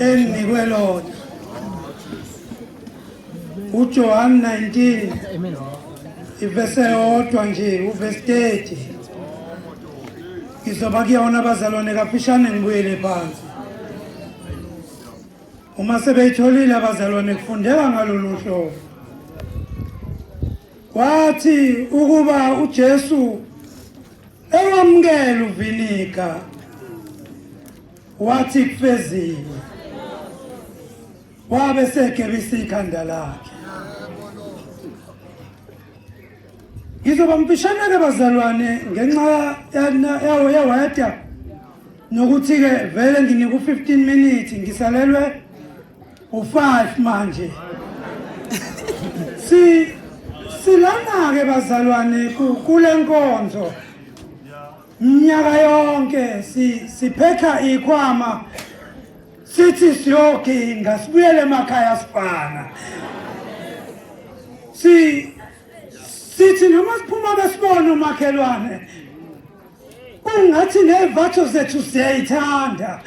enginikwe lona uJohn 19 ivese yodwa nje uvesi 30 ngizoba kuyona abazalwane kaphishane ngibuyele phansi uma sebeyitholile abazalwane kufundeka ngalolu hlobo wathi ukuba uJesu ewamukela uvinika wathi kufezile wabe segebisa ikhanda lakhe ngizoba mfishane-ke bazalwane ngenxa yawo yeweda nokuthi-ke vele nginika u-15 minutes ngisalelwe u-five manje si silana-ke bazalwane kule nkonzo Mnyaka yonke siphetha ikhwama sithi siyoginga sibuyele emakhaya sifana si sithi noma siphuma besibona umakhelwane kungathi nevatho zethu siyayithanda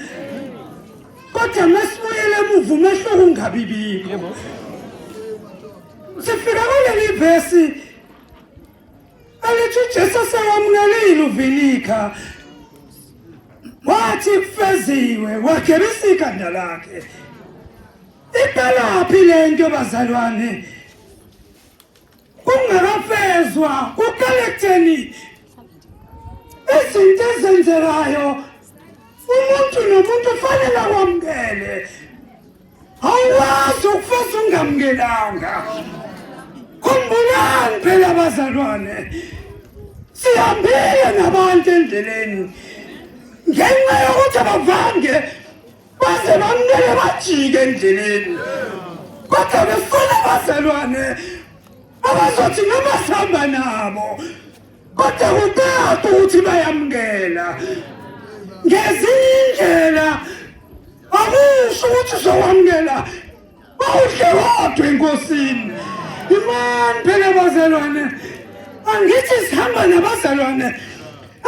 kodwa mesibuyele emuva umehlo kungabibikho sifika kuleli vesi Alithi uJesu sewamlalile uVinika. Wathi kufeziwe wagebisa ikhanda lakhe. Iphelaphi lento bazalwane? Kungakafezwa ukaletheni izinto ezenzekayo umuntu nomuntu ufanele akwamukele awukwazi ukufeza ungamkelanga khumbulani phela abazalwane sihambile nabantu endleleni ngenxa yokuthi abavange baze bamnele bajike endleleni kodwa befuna abazalwane abazothi noma sihamba nabo kodwa kutatu ukuthi bayamngena ngezinye indlela akusho ukuthi uzowamngena bawudle wodwa enkosini imani phela bazalwane angithi sihamba nabazalwane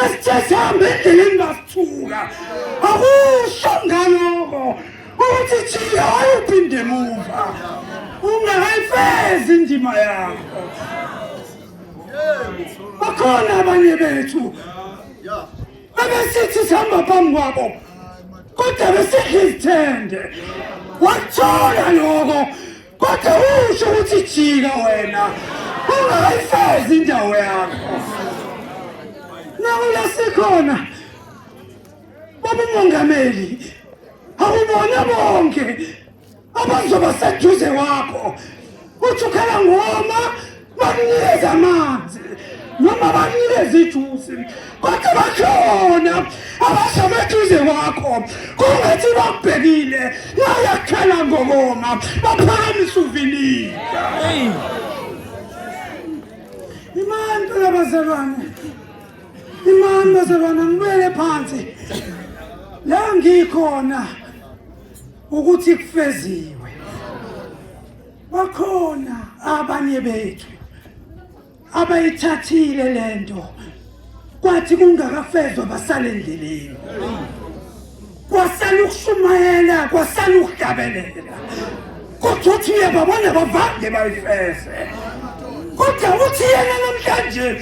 asithe sihambe endleleni basithuka akusho ngaloko ukuthi jika wayophinde emuva ungakayifezi indima yakho bakhona abanye bethu abesithi sihamba phambi kwabo kodwa besidla izithende wakuthola loko kodwa usho ukuthi jika wena ungayifezi indawo yakho nawe lasikhona babumongameli awubona bonke abazoba seduze kwakho uthi ukhala ngoma bakunikeze amanzi noma bakunikeze ijusi kodwa bakhona abashama eduze kwakho kungathi bakubhekile nayakhala ngokoma baphakamisa uvinile imani phela bazalwane imani bazalwane ngibele phansi la ngikhona ukuthi kufeziwe bakhona abanye bethu abayithathile lento kwathi kungakafezwa basale endleleni kwasala ukushumayela kwasala ukuhlabelela kodwa uthi uyababona bavange bayifeze kodwa uthi yena namhlanje